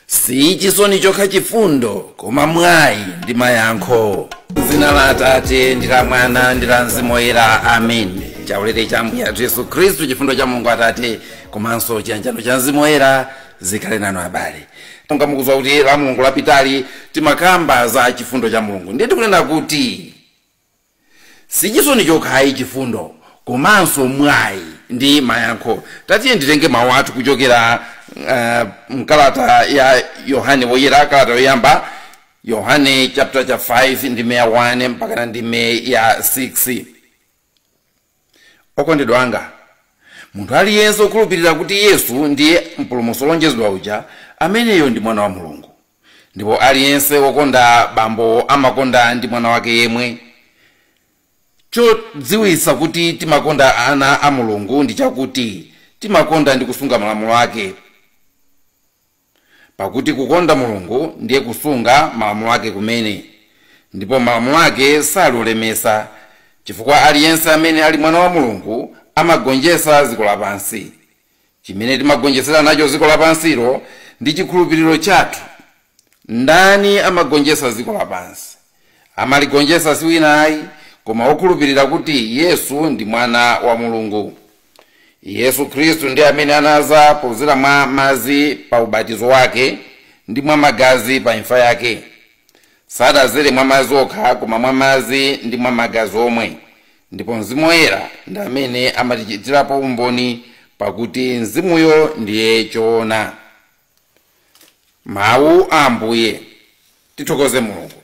si chisoni chokha chifundo koma mwayi ndi mayankho dzina la atate ndi la mwana ndi la mzimu woyera amen chaulere cha ambuye athu yesu khristu chifundo cha mulungu atate komanso chiyanjano cha mzimu woyera zikhale nanu abale monga mukudziwa kuti la mulungu lapitali timakamba za chifundo cha mulungu ndiye tikunena kuti sichisoni chokhayi chifundo komanso mwayi ndi mayankho tatiye nditenge mawu athu kuchokera uh, mkalata ya yohane woyera kalata yoyamba yohane chapter cha 5 ndime ya 1 mpakana ndime ya 6 okondedwa anga munthu aliyense okhulupirira kuti yesu ndiye mpulumutsi olonjezedwa uja ameneyo ndi mwana wa mulungu ndipo aliyense wokonda bambo amakonda ndi mwana wake yemwe chodziwitsa kuti timakonda ana a mulungu ndi chakuti timakonda ndi kusunga malamulo ake pakuti kukonda mulungu ndiye kusunga malamulo ake kumene ndipo malamulo ake sali olemesa chifukwa aliyense amene ali mwana wa mulungu amagonjetsa dziko lapansi chimene timagonjetsera nacho dziko lapansilo ndi chikhulupiriro chathu ndani amagonjetsa dziko lapansi amaligonjetsa si wina ayi koma okhulupirira kuti yesu ndi mwana wa mulungu yesu khristu ndi amene anaza podzera mwa madzi pa ubatizo wake ndi mwa magazi pa imfa yake sadazere mwa madzi okha koma mwa madzi ndi mwa magazi omwe ndipo mzimu woyera ndi amene amatichitirapo umboni pakuti mzimuyo ndiye choona mawu a ambuye tithokoze mulungu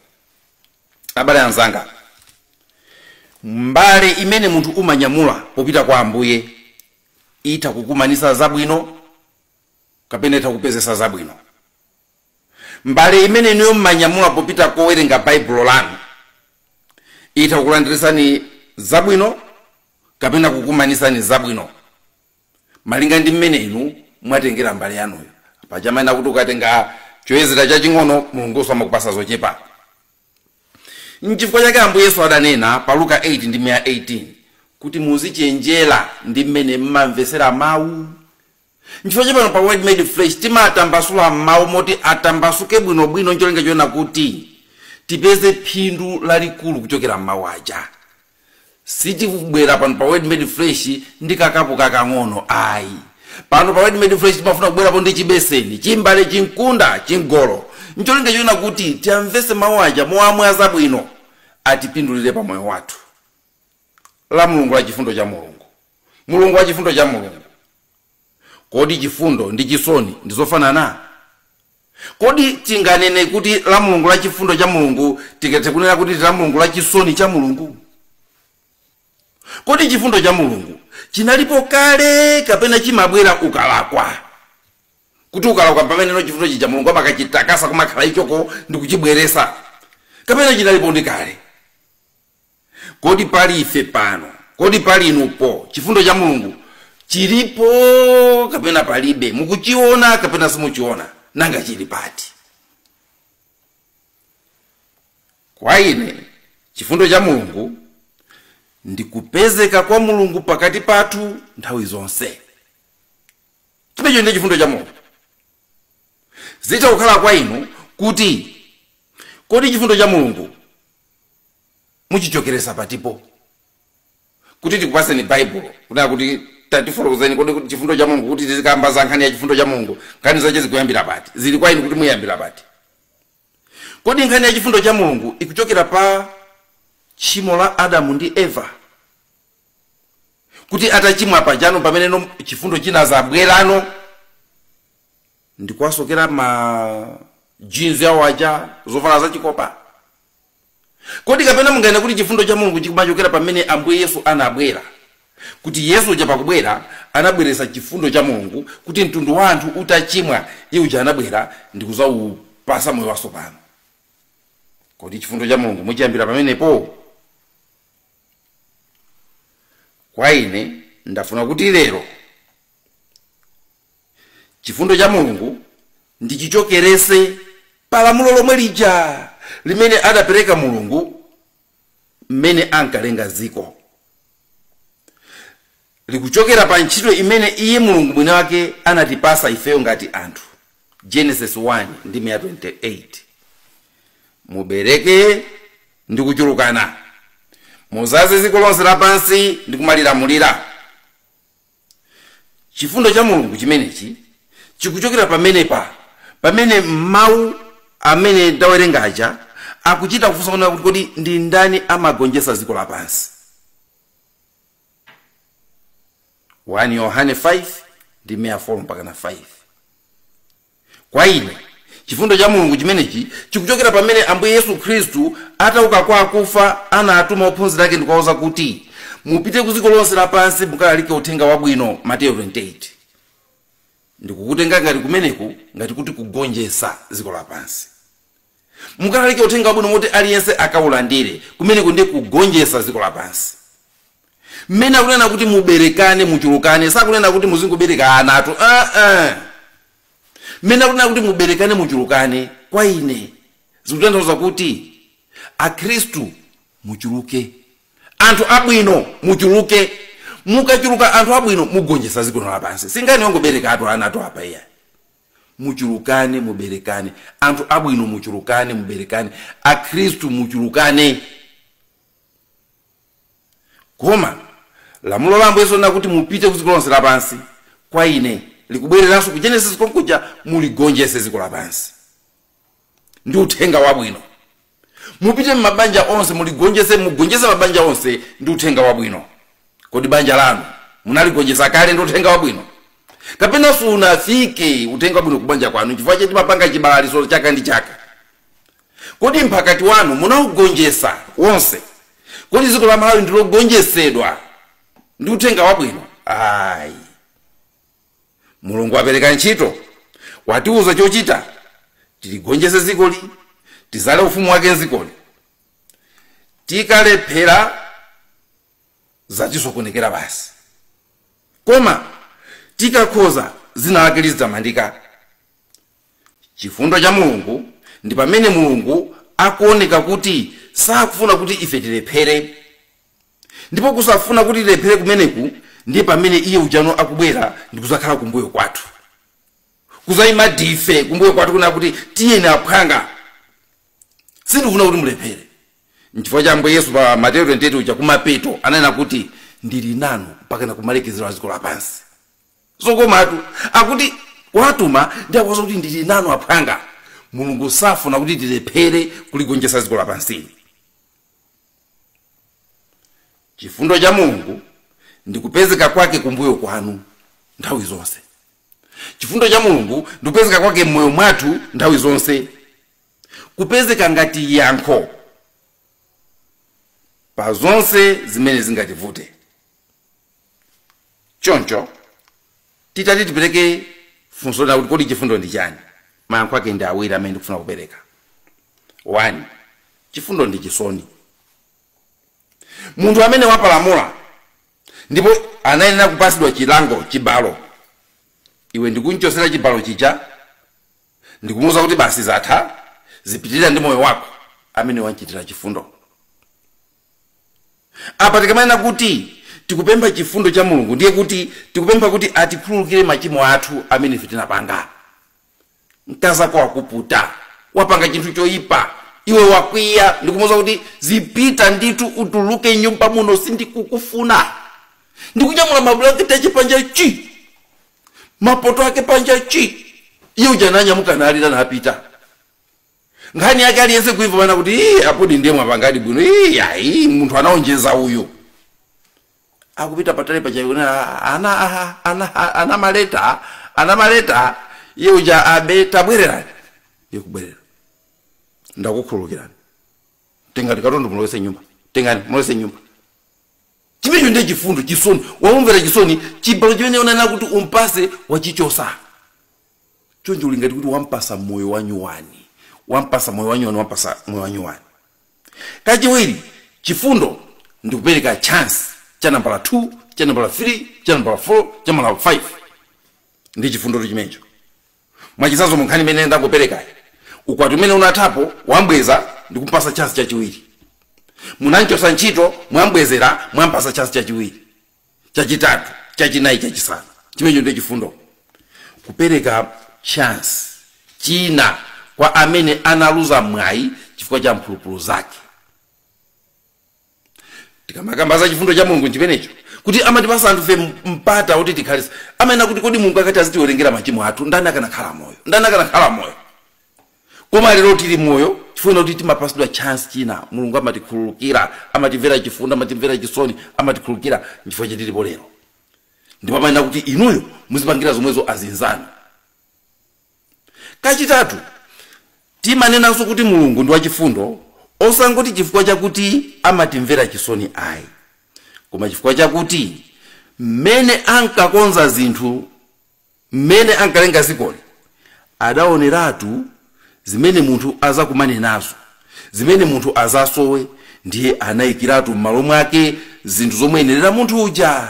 abale anzanga mbale imene munthu umanyamula popita kwa ambuye itha kukumanisa zabwino kapena itha kupezesa zabwino Mbale imene inuyo mumanyamula popita kowerenga Baibulo lanu itha kukulandiritsani zabwino kapena kukumanitsani zabwino malinga ndi mmene inu mwatengera mbale yanuyo. Paja amanena kuti ukatenga choyezera chaching'ono, Mulungunso amakupatsa zochepa. N'chifukwa chake Ambuye Yesu adanena pa Luka 8 ndime ya 18 kuti muzichenjera ndi mmene m'mamvetsera mawu Nchifukwa chake pano pa Word Made Flesh timatambasula mawu moti atambasuke bwinobwino n'cholinga choona kuti tipeze phindu lalikulu kuchokera m'mawu aja. Sitikubwera pano pa Word Made Flesh ndi kakapu kakang'ono ayi. Pano pa Word Made Flesh timafuna kubwerapo ndi chibeseni, chimbale, chimkunda, chingolo n'cholinga choona kuti tiyamvetse mawu aja mowamwaza bwino atipindulire pa moyo wathu. la Mulungu la chifundo cha Mulungu. Mulungu wa chifundo cha Mulungu. Kodi chifundo ndi chisoni ndi zofanana? Kodi tinganene kuti la Mulungu la chifundo cha Mulungu tingathe kunena kuti ndi la Mulungu la chisoni cha Mulungu? Kodi chifundo cha Mulungu chinalipo kale kapena chimabwera ukalakwa? Kuti ukalakwa pameneno chifundo chija Mulungu amakachitakasa kumakhala ichoko n'kuchibweresa kapena chinalipo ndi kale? Kodi pali ife pano? Kodi pali inu po? Chifundo cha Mulungu chilipo kapena palibe? Mukuchiona kapena simuchiona? Nanga chili pati? Kwa ine chifundo cha Mulungu ndi kupezeka kwa Mulungu pakati pathu nthawi zonse. Chimenecho ndiye chifundo cha Mulungu. Zitha kukhala kwa inu kuti kodi chifundo cha Mulungu muchichokeresa patipo kuti tikupaseni baibulo kunena kuti tatifotokozeni kodi kuti chifundo cha mulungu kuti tizikamba za nkhani ya chifundo cha mulungu nkhani zache zikuyambira pati zili kwa inu kuti muyambira pati kodi nkhani ya chifundo cha mulungu ikuchokera pa tchimo la adamu ndi eva kuti atachimwa pajano pameneno chifundo chinazabwerano ndikuwasokera majinzi awo aja zovala zachikopa Kodi kapena munganene kuti chifundo cha Mulungu chikumachokera pamene Ambuye Yesu anabwera? Kuti Yesu uja pakubwera anabweresa chifundo cha Mulungu kuti mtundu wa anthu utachimwa, Iye uja anabwera ndi kuzaupasa moyo wasopano. Kodi chifundo cha Mulungu muchiyambira pamenepo? Kwa ine, ndafuna kuti lero Chifundo cha Mulungu ndichichokerese pa lamulo lomwe lija limene adapereka Mulungu mmene ankalenga dziko. Likuchokera pa ntchito imene Iye Mulungu Mwiniwake anatipasa ifeyo ngati anthu, Genesis 1 ndime ya 28. Mubereke ndi kuchulukana. Muzaze dziko lonse lapansi ndi kumalilamulira. chifundo cha mulungu chimenechi chikuchokera pamenepa pamene mawu amene ndawerenga aja akuchita kufunsa kunena kuti kodi ndi ndani amagonjetsa dziko lapansi 1 yohane 5 ndi 4 mpaka na 5 Kwa ine, chifundo cha Mulungu chimenechi chikuchokera pamene Ambuye Yesu Khristu atauka kwa akufa anatuma ophunzira ake ndikuwauza kuti, Mupite ku dziko lonse lapansi mukalalike Uthenga Wabwino, Mateyu 28. Ndikukutenga ngati kumeneku ngati kuti kugonjetsa dziko lapansi. mukalalike uthenga wabwino mwakuti aliyense akaulandire. Kumeneku ndi kugonjetsa dziko lapansi. Mmene akunena kuti muberekane, muchulukane, sakunena kuti muzingobereka anatu, aa. Mmene akunena kuti muberekane, muchulukane, kwa ine zikutanthauza kuti Akhristu muchuluke, anthu abwino muchuluke. Mukachuluka anthu abwino mugonjetsa dziko lino lapansi. Si nkhani yongoberekatu anatu apa iyayi. muchulukane muberekane anthu abwino muchulukane muberekane akhristu muchulukane koma lamulo la ambuye yesu kuti mupite ku dziko lonse lapansi kwa ine likubwereranso ku genesis konkuja muligonjese dziko lapansi ndi uthenga wabwino mupite m'mabanja onse muligonjese mugonjese mabanja onse ndi uthenga wabwino kodi banja lanu munaligonjesa kale ndi uthenga wabwino kapena sunafike uthenga wabwino kubanja kwanu chifukwa choti mapanga chibalaliso chaka ndi chaka kodi mphakati wanu munaugonjesa wonse kodi dziko la malawi ndilogonjesedwa ndi uthenga wabwino ayi mulungu wapereka ntchito watiuza chochita tiligonjese zikoli tizale ufumu wake mzikoli tikalephera zatisokonekera basi koma tikakhoza zina lake lizitamandika chifundo cha mulungu ndi pamene mulungu akuoneka kuti sakufuna kuti ife tilephere Ndipo kusafuna kuti tilephere kumeneku ndiye pamene Iye ujano akubwera ndikudzakhala kumbuyo kwathu, kudzayima dife kumbuyo kwathu kunena kuti, Tiyeni aphwanga, sindikufuna kuti mulephere. N'chifukwa cha Ambuye Yesu pa Mateyu 28 uja kumapeto ananena kuti, Ndili nanu mpakana kumalekezero a dziko lapansi. Zokomatu! Akuti wawatuma ndiye akuwauza kuti ndili nanu aphwanga. Mulungu safuna kuti tilephere kuligonjetsa dziko lapansi. chifundo cha mulungu ndi kupezeka kwake kumbuyo kwanu nthawi zonse chifundo cha mulungu ndi kupezeka kwake mmoyo mwathu nthawi zonse kupezeka ngati yankho pa zonse zimene zingativute choncho titati tipereke funso lonena kuti kodi chifundo ndi chani mayankho ake ndi awiri amene ndikufuna kupereka one chifundo ndi chisoni munthu amene wapalamula ndipo anayenera kupasidwa chilango chibalo iwe ndikunchosera chibalo chija ndikumuuza kuti basi zatha zipitirira ndi moyo wako ameneyo wanchitira chifundo Apa tikamanena kuti tikupempha chifundo cha Mulungu ndiye kuti tikupempha kuti atikhululukire machimo athu amene ife tinapanga. Mkazi wako wakuputa, wapanga chinthu choipa, iwe wakwiya ndi kumuuza kuti, Zipita ndithu, utuluke m'nyumba muno, sindikukufuna! ndi kunyamula mabulangete ache panja chi! mapoto ake panja chi! Iye uja ananyamuka nalira napita. nkhani yake aliyense kuimva amanena kuti ii apodi ndiye mwapangadi bwino ii ayi munthu anaonjeza uyu akupita patali apo mwachiona ana aha, ana aha, ana m'maletsa ana m'maletsa iye uja abe tabwererani iye kubwerera ndakukhululukirani tengani katundu mulowese nyumba tengani mulowese nyumba chimenecho ndiye chifundo chisoni waumvera chisoni chibalo chimene unanena kuti umpase wachichosa choncho uli ngati kuti wampasa moyo wanyuwani wampasa moyo wanyuwani wampasa moyo wanyuwani kachiwiri chifundo ndikupereka chance cha nambala 2 cha nambala 3 cha nambala 4 cha nambala 5 ndi chifundoto chimenecho mwachisazo munkhani imene ndakuperekayi ukwati umene unathapo wambweza ndi kumpasa chance chachiwiri munamchosa ntchito mwambwezera mwampasa chance chachiwiri chachitatu chachinayi chachisanu chimenecho ndiye chifundo kupereka chance china kwa amene analuza mwayi chifukwa cha mphulupulu zake tikamakamba za chifundo cha mulungu chimenecho kuti amatipasa anthufe mpata kuti tikhale amanena kuti kodi mulungu akati azitiwerengera machimo athu ndani akanakhala moyo ndani akanakhala moyo koma lero tili moyo chifukwa kuti timapasidwa chance china mulungu amatikhululukira amatimvera chifundo amatimvera chisoni amatikhululukira nchifukwa chitilipo lero ndipo amanena kuti inuyo muzipangira zomwezo azinzanu kachitatu timanenanso kuti mulungu ndi wachifundo osangoti chifukwa chakuti amatimvera chisoni ayi koma chifukwa chakuti mmene ankakonza zinthu mmene ankalenga dzikoli adaoneratu zimene munthu adzakumane nazo, zimene munthu adzasowe, ndiye anaikiratu m'malo mwake zinthu zomuyenerera munthu uja.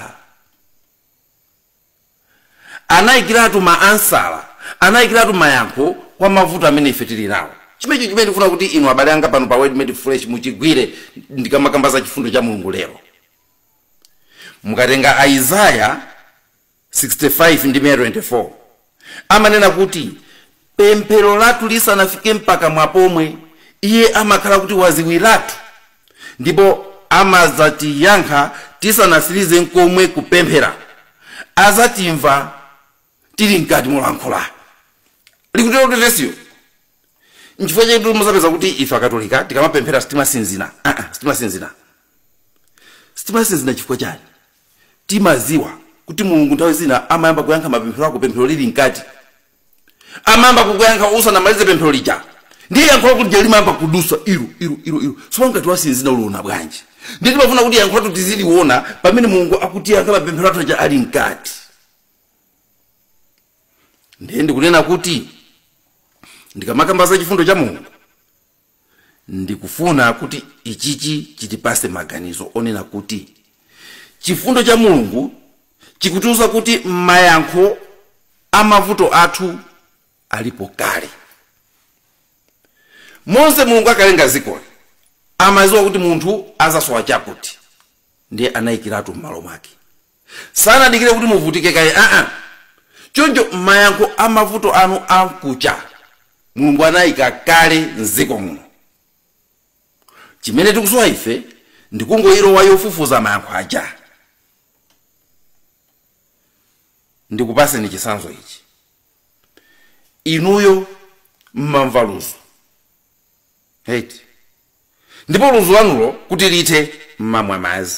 Anaikiratu maansala, anaikiratu mayankho kwa mavuto amene ife tili nawo. Chimenecho chimene ndikufuna kuti inu abale anga pano pa Word Made Flesh muchigwire ndikamakamba za chifundo cha Mulungu lero. Mukatenga Isaya. 65 ndime ya 24 amanena kuti pemphero lathu lisanafike mpakamwa pomwe iye amakhala kuti wadziwiratu ndipo amadzatiyankha tisanatsirize nkomwe kupemphera adzatimva tili mkati molankhula likutero vesiyo nchifukwa chake kuti mudzapeza kuti ife akatolika tikamapemphera sitimasinzina Ah, ah, sitimasinzina sitimasinzina chifukwa chani timadziwa kuti mulungu nthawi zina amayamba kuyankha mapemphero ako pemphero lili mkati amayamba kukuyankha usanamalize pemphero lija ndiye yankho lako lija limayamba kudutsa iru iru iru iru sopano ngati wasinzina uliona bwanji ndiye timafuna kuti yankho lathu tiziliona pamene mulungu akutiyankha mapemphero athu aja ali mkati ndiye ndikunena kuti ndikamakamba za chifundo cha mulungu ndikufuna kuti ichichi chitipatse maganizo onena kuti chifundo cha mulungu chikutiuza kuti mayankho a mavuto athu alipo kale m'mene mulungu ankalenga dzikoli amadziwa kuti munthu adzasowa chakuti ndiye anayikiratu m'malo mwake sanadikire kuti muvutike kaye aa choncho mayankho a mavuto anu aja mulungu anayika kale m'dziko muno chimene tikusowa ife ndikungoyilowa yofufuza mayankho aja ndikupatseni chitsanzo ichi inuyo mmamva ludzu eti ndipo ludzu lanulo kuti lithe m'mamwa madzi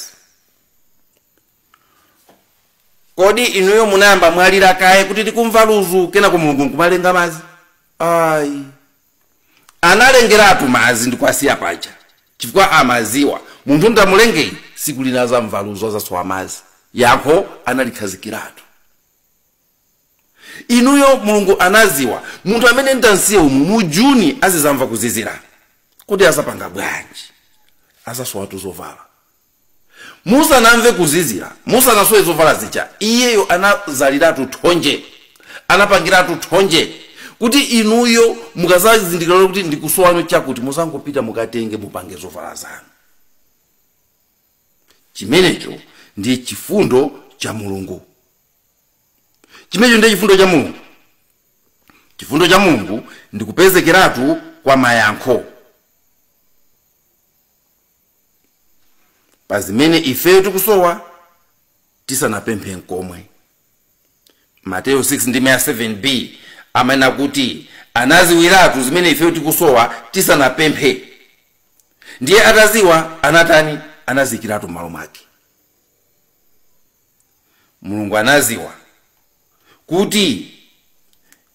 kodi inuyo munayamba mwalira kaye kuti tikumva ludzu kenako mulungu nkumalenga madzi ayi analengeratu madzi ndikuwasiya paja chifukwa amadziwa munthu ndamulengayi siku lina adzamva ludzu adzasowa madzi yankho analikhazikiratu inuyo mulungu anadziwa munthu amene ndimsiye umu mu juni azidzamva kuzizira kodi adzapanga bwanji adzasowatu zovala musanamve kuzizira musanasowe zovala zija iyeyo anadzaliratu thonje anapangiratu thonje kuti inuyo mukadzazindikira lero kuti ndikusowano chakuti mudzangopita mukatenge mupange zovala zanu chimenecho ndiye chifundo cha mulungu chimenecho ndiye chifundo cha mulungu chifundo cha mulungu ndi kupezekeratu kwa mayankho pa zimene ifeyo tikusowa tisanapemphe nkomwe Mateyu 6 ndime ya 7 b amanena kuti anaziwiratu zimene ifeyo tikusowa tisanapemphe ndiye ataziwa anatani anaziyikiratu m'malo mwake mulungu anaziwa kuti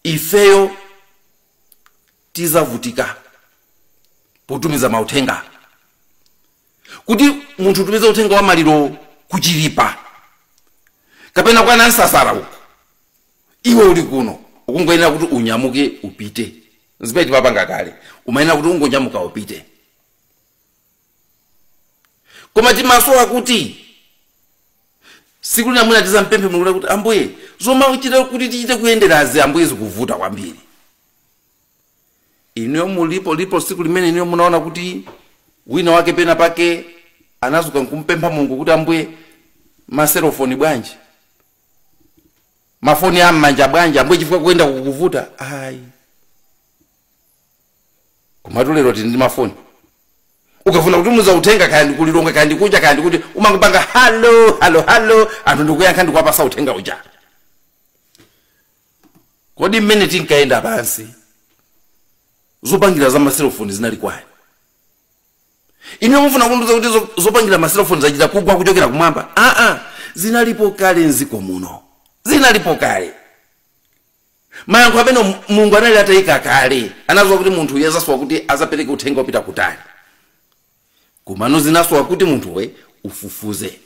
ifeyo tizavutika potumiza mauthenga kuti munthu utumize uthenga wa malirowo ku chilipa kapena kwa Nansasala uko iwe uli kuno ukungoyenera kuti unyamuke upite zimene timapanga kale umayenera kuti ungonyamuka upite koma timasowa kuti siku lina mwina tizampemphe mulungu kuti ambuye zomwe uchite kuti tichite kuyenderazi ambuye zikuvuta kwambiri inuyo mulipo lipo siku limene inuyo munaona kuti wina wake pena pake anazuka nkumpempha mulungu kuti ambuye maselofoni bwanji mafoni a mmanja bwanji ambuye chifukwa kuyenda kukuvuta ayi komatu lero tili ndi mafoni ukafuna kutumiza uthenga kaya ndi ku Lilongwe kaya ndi kunja kaya ndi kuti umangopanga halo halo halo anthu ndikuyankha ndikuwapasa uthenga uja Kodi mmene tinkayenda pansi zopangira za maselofoni zinali kwani? Inuyo mufuna kundiuza kuti zo- zopangira maselofoni zachita kugwa kuchokera kumwamba? Aa, zinalipo kale mdziko muno, zinalipo kale. Mayankho amene Mu- Mulungu anali atayika kale, anaziwa kuti munthu uyu azasowa kuti azapereke uthenga opita kutali. komano zinasowa kuti munthuwe ufufuze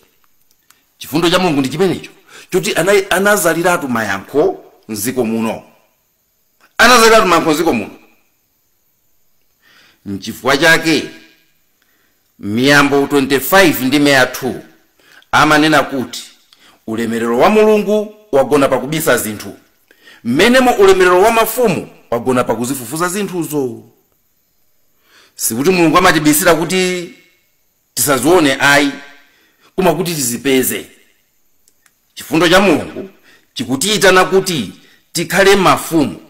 chifundo cha mulungu ndi chimenecho choti ana- anazaliratu mayankho mziko muno anazaliratu mayankho mziko muno mchifukwa chake miyambo 25 ndime ya 2 amanena kuti ulemerero wa mulungu wagona pakubisa zinthu mmenemo ulemerero wa mafumu wagona pakuzifufuza zinthuzo sikuti mulungu amatibisira kuti tisazione ayi koma kuti tizipeze chifundo cha mulungu chikutiyitana kuti tikhale mafumu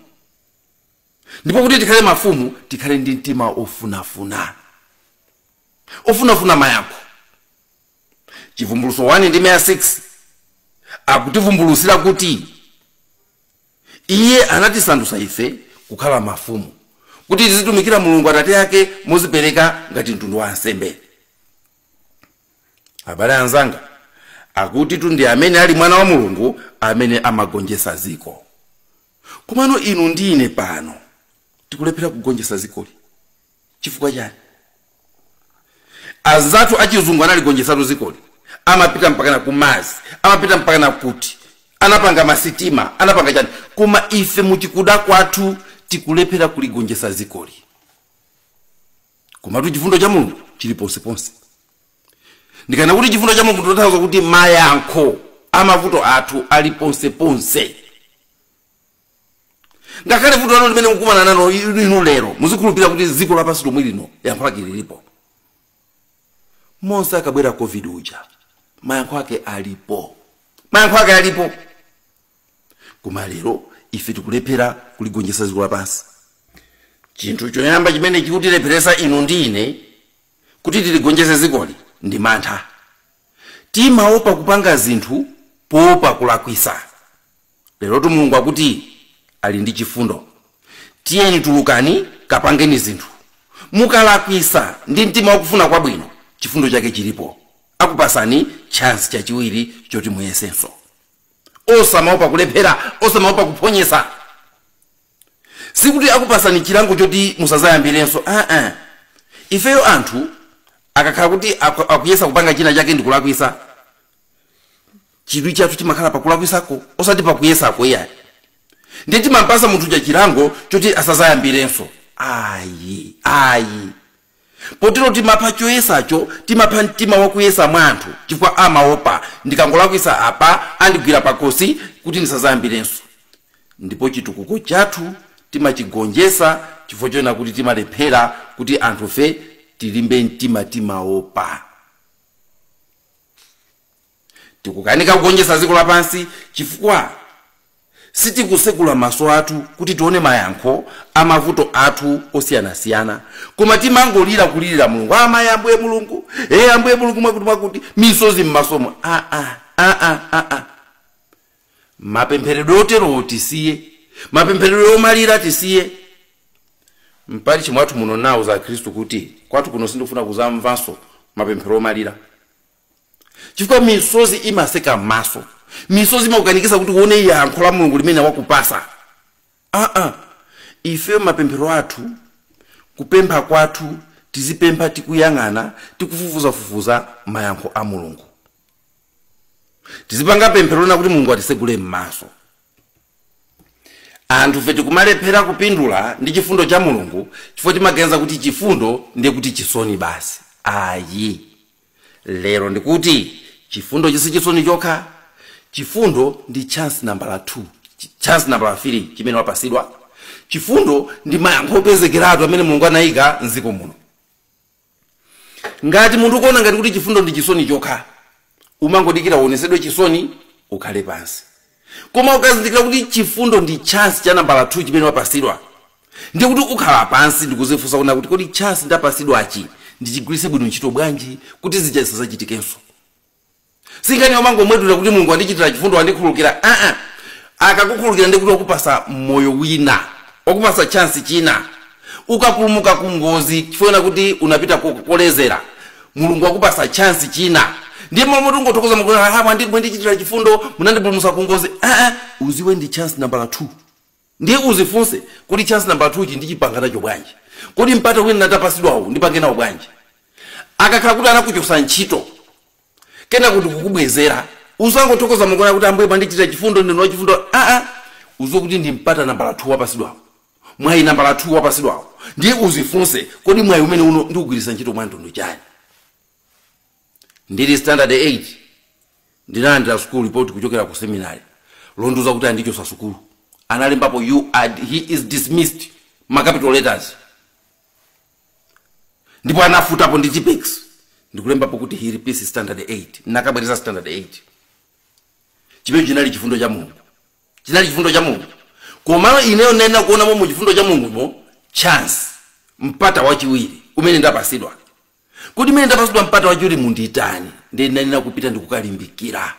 ndipo kuti tikhale mafumu tikhale ndi mtima ofunafuna ofunafuna mayankho chivumbuluso 1 ndime ya 6 akutivumbulutsira kuti Iye anatisandutsa ife kukhala mafumu, kuti tizitumikira Mulungu Atate yake mozipereka ngati mtundu wa ansembe. Abale anzanga, akutitu ndi amene ali mwana wa Mulungu amene amagonjetsa dziko. Komano inu ndi ine pano tikulephera kugonjetsa dzikoli. Chifukwa chani? Anzathu achizungu analigonjetsatu zikoli, amapita mpakana ku madzi, amapita mpakana kuti, anapanga ma sitima, anapanga chani, koma ife muchikuda kwathu tikulephera kuligonjetsa zikoli. Komatu chifundo cha Mulungu chili ponseponse. Ndikanena kuti chifundo cha Mulungu ndikutanthauza kuti mayankho amavuto athu ali ponseponse. ngakhale vuto lanu limene mukumana nalo inu lero muzikhulupirira kuti dziko lapansi lomwe lino yankho lake lilipo monse akabwera covid uja mayankho ake alipo mayankho ake alipo koma lero ife tikulephera kuligonjetsa dziko lapansi chinthu choyamba chimene chikutilepheresa inu ndi ine kuti tiligonjese dzikoli ndi mantha Timaopa kupanga zinthu poopa kulakwisa. Lerotu Mulungu akuti ali ndi chifundo. Tiyeni tulukani kapangeni zinthu. Mukalakwisa ndi mtima wakufuna kwabwino, chifundo chake chilipo. Akupasani chance chachiwiri choti muyesenso. Osamaopa kulephera, osamaopa kuphonyesa. sikuti akupasani chilango choti musazayambirenso aa ifeyo anthu akakhala kuti aku- akuyesa kupanga china chake ndikulakwisa chidwi chathu chimakhala pakulakwisako osati pakuyesako iyayi ndiye timampasa munthu uja chilango choti asazayambirenso ayi ayi potero timapha choyesacho timapha mtima wakuyesa mwa anthu chifukwa amaopa ndikangolakwisa apa andigwira pakhosi kuti ndisazayambirenso ndipo chitukuko chathu timachigonjesa chifukwa chonena kuti timalephera kuti anthufe tilimbe mtima timaopa tikukanika kugonjetsa dziko lapansi chifukwa sitikusekula maso athu kuti tione mayankho a mavuto athu osiyanasiyana koma timangolira kulirira mulungu amayi ambuye mulungu e ambuye mulungu mwakuti mwakuti misozi m'masomo aa aa aa mapempheredwe oterowo tisiye mapempheredwe omalira tisiye mpachimwathu muno mwa Khristu kuti kwathu kuno sindikufuna kuzamvanso mapemphero omalira chifukwa misozi imaseka m'maso misozi imakukanikisa kuti uone yankho la mulungu limene wakupasa aa ifeyo mapemphero athu kupempha kwathu tizipempha tikuyang'ana tikufufuzafufuza mayankho a mulungu tizipanga pemphero lonena kuti mulungu atisegule m'maso anthu fe tikumalephera kupindula ndi chifundo cha mulungu chifukwa timaganiza kuti chifundo ndiye kuti chisoni basi ayi lero ndikuti chifundo si chisoni chokha chifundo ndi chance nambala 2 chi- chance nambala 3 chimene wapasidwa chifundo ndi mayankho opezekeratu amene mulungu anayika mdziko muno ngati munthu ukuona ngati kuti chifundo ndi chisoni chokha umangodikira uonesedwe chisoni ukhale pansi koma ukazindikira kuti chifundo ndi chance cha nambala 2 chimene wapasidwa ndiye kuti ukhala pansi ndikuzifunsa kuna kuti kodi chance ndapasidwachi ndichigwiritse bwino ntchito bwanji kuti zija zisazachitikenso sinkhani yomangomwetulira kuti mulungu wandichitira chifundo wandikhululukira aa akakukhululukira ndiye kuti wakupasa moyo wina wakupasa chance china ukapulumuka ku ngozi chifukwa chonena kuti unapita ko- kolezera mulungu wakupasa chansi china ndiye malo moti ungothokoza mulungu kuti, "Ah, mwandi- mwandichitira chifundo munandipulumusa ku ngozi Ah, ah, uziwe ndi chansi nambala 2 ndiye uzifunse kodi chansi nambala 2 chi ndipanga nacho bwanji kodi mpata wina ndapasidwawo ndipange nawo bwanji akakhala kuti anakuchosa ntchito kenaka ndi kukubwezera usangothokoza mulungu kuti ambuye mwandichitira chifundo ndinu wachifundo aa uziwe kuti ndi mpata nambala 2 wapasidwawo Mwayi nambala 2 wapatsidwawu ndiye uzifunse kodi mwayi umene uno ndiugwiritsa ntchito mwa mtundu wanji? Ndili standard 8 ndinalandira school report kuchokera ku seminary londiuza kuti andichotsa sukulu analembapo you are, he is dismissed ma capital letters ndipo anafutapo ndi tipex ndikulembapo kuti he repeats standard 8 ndikabwereze standard 8 chimene chinali chifundo cha mulungu Chinali chifundo cha Mulungu. Komano ineyo ndinayenera kuonamo mu chifundo cha Mulungumo chance, mpata wachiwiri umene ndapatsidwa. Kodi mmene ndapatsidwa mpata wachiwirimu nditani? Ndiye ndinayenera kupita ndi kukalimbikira.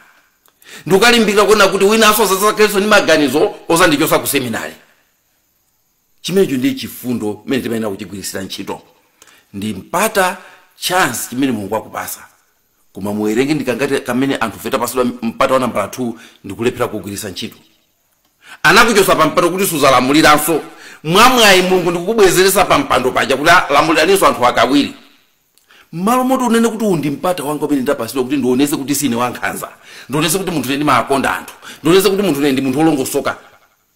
Ndi kukalimbikira kunena kuti winanso asadzakhalenso ndi maganizo odzandichotsa ku seminary. chimenecho ndiye chifundo chimene timayenera kuchigwiritsira ntchito ndi mpata chance chimene mulungu akupasa koma muwerenge, ndikangati kamene anthu fe tapasidwa mpata wa nambala 2 ndikulephera kugwiritsa ntchito anakuchosa pa mpando kuti suzalamuliranso mwamwayi mulungu ndikukubwezeretsa pa mpando paja kuti lamuliraninso anthu akawiri mmalo moti unene kuti uwu ndi mpata wanga umene ndapasidwa kuti ndionese kuti sine wankhanza ndionese kuti munthu ine ndimaakonda anthu ndionese kuti munthu ine ndi munthu wolongosoka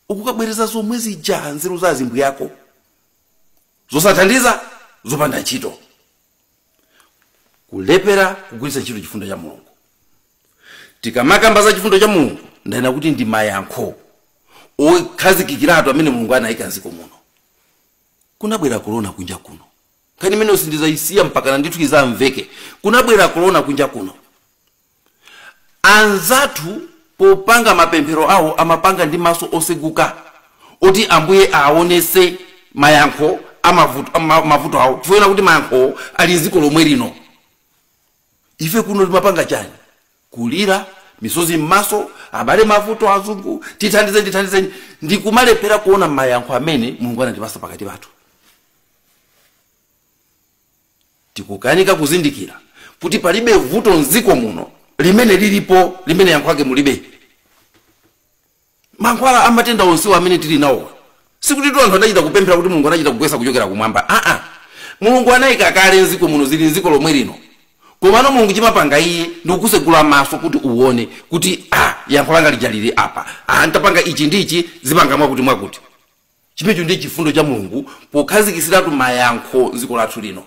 ukukabwereza zomwe zija nzeru za azimbuyako, zosathandiza zopanda ntchito kulephera kugwiritsa ntchito chifundo cha mulungu tikamakamba za chifundo cha mulungu ndanena kuti ndi mayankho okhazikikiratu amene mulungu anayika mdziko muno kunabwera korona kunja kuno nkhani imeneyo sindizayisiya mpakana ndithu izamveke kunabwera korona kunja kuno Anzathu popanga mapemphero awo amapanga ndi maso oseguka oti ambuye awonese mayankho amavuto, ma, mavuto awo chifukwa chona kuti mayankhowo ali mziko lomwe lino. Ife kuno timapanga chani? Kulira, misozi mmaso, abale mavuto azungu, tithandizeni tithandizeni ndikumalephera kuona mayankho amene Mulungu anatipasa pakati pathu. Tikukanika kuzindikira kuti palibe vuto m'dziko muno limene lilipo limene yankho lake mulibe. Mankhwala a matenda onsewa amene tili nawowa, sikutitu anthu adachita kupemphera kuti Mulungu anachita kugwetsa kuchokera kumwamba aa! Mulungu anaika kale m'dziko muno, zili m'dziko lomwe lino komano Mulungu chimapanga Iye ndi kukutsegula maso kuti uwone kuti ah! yankho langa lija lili apa, ah! ntapanga ichi ndi ichi zipanga mwakuti mwakuti. Chimenecho ndiye chifundo cha Mulungu pokhazikitsiratu mayankho m'dziko lathu lino.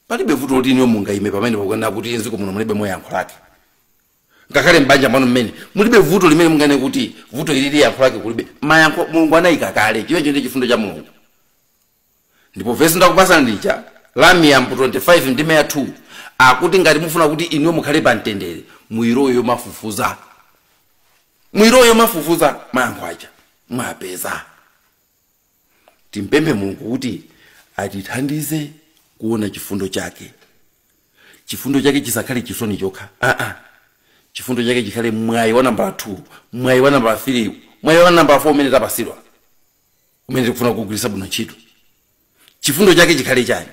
Palibe vuto loti inuyo mungaime pamenepo n'kunena kuti m'dziko muno mulibemo yankho lake. Ngakhale m'banja mwanu mmene mulibe vuto limene munganene kuti vuto ilili yankho lake kulibe. Mayankho Mulungu anaika kale. Chimenecho ndiye chifundo cha Mulungu. ndipo vesi ndakupasani lija la miyambo 25 ndime ya 2 akuti ngati mufuna kuti inuyo mukhale pa mtendere muyilowe yomafufuza muyilowe yomafufuza mayankho aja mwapeza timpemphe mulungu kuti atithandize kuona chifundo chake chifundo chake chisakhale chisoni chokha aa chifundo chake chikhale mwayi wa nambala 2 mwayi wa nambala 3 mwayi wa nambala 4 umene tapasidwa umene tikufuna kugwiritsa bwino ntchito chifundo chake chikhale chani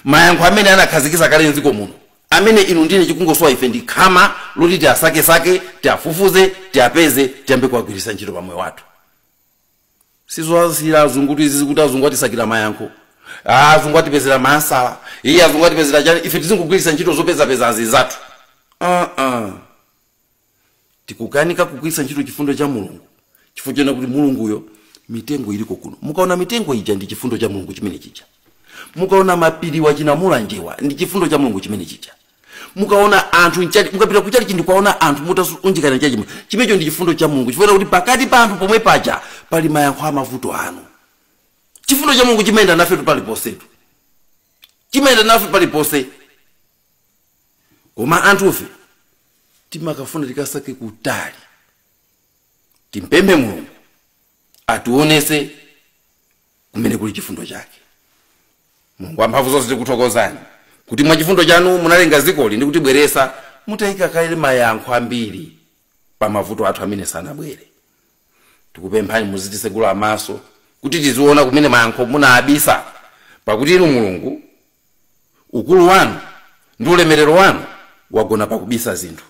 mayankho amene anakhazikitsa kale mdziko muno amene inu ndi ine chikungosowa ife ndi khama loti tiasakesake tiafufuze tiapeze tiyambe kuwagwiritsa ntchito pa moyo wathu sizowasiyira azungu kuti tizizati azungu atisakira mayankho Ah, azungu atipezera maansa iyi azungu atipezera chani ife tizingogwiritsa ntchito zopezapeza azinzathu uh -uh. tikukanika kugwiritsa ntchito chifundo cha mulungu chifukwa chona kuti mulunguyo mitengo iliko kuno mukaona mitengo ija ndi chifundo cha mulungu chimene chija mukaona mapiriwa chinamulanjewa ndi chifundo cha mulungu chimene chija mukaona anthu mtchalitchi mukapita kutchalitchi ndi kuwaona anthu mutasonkhana mtchalitchimo chimenecho ndi chifundo cha mulungu chifukwa kuti pakati pa anthu pomwe paja pali mayankho a mavuto anu chifundo cha mulungu chimayenda nafetu paliponsetu chimayenda nafe paliponse koma anthufe timakafuna tikasake kutali timpemphe mulungu atiwonese kumene kuli chifundo chake mulungu wamphamvu zonse tikuthokozani kuti mwa chifundo chanu munalenga dzikoli ndi kutibweretsa mutayika kale mayankho ambiri pa mavuto athu amene sanabwere tikupemphani muzitisegula maso kuti tiziona kumene mayankho munawabisa pakuti inu mulungu ukulu wanu ndi ulemerero wanu wagona pakubisa zinthu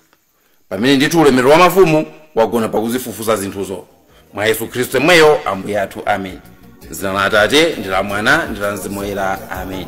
pamene ndithu ulemerero wa mafumu wagona pakuzifufuza zinthuzo mwa yesu khristu yemweyo ambuye athu amen m'dzina la atate ndi la mwana ndi la mzimu woyera amen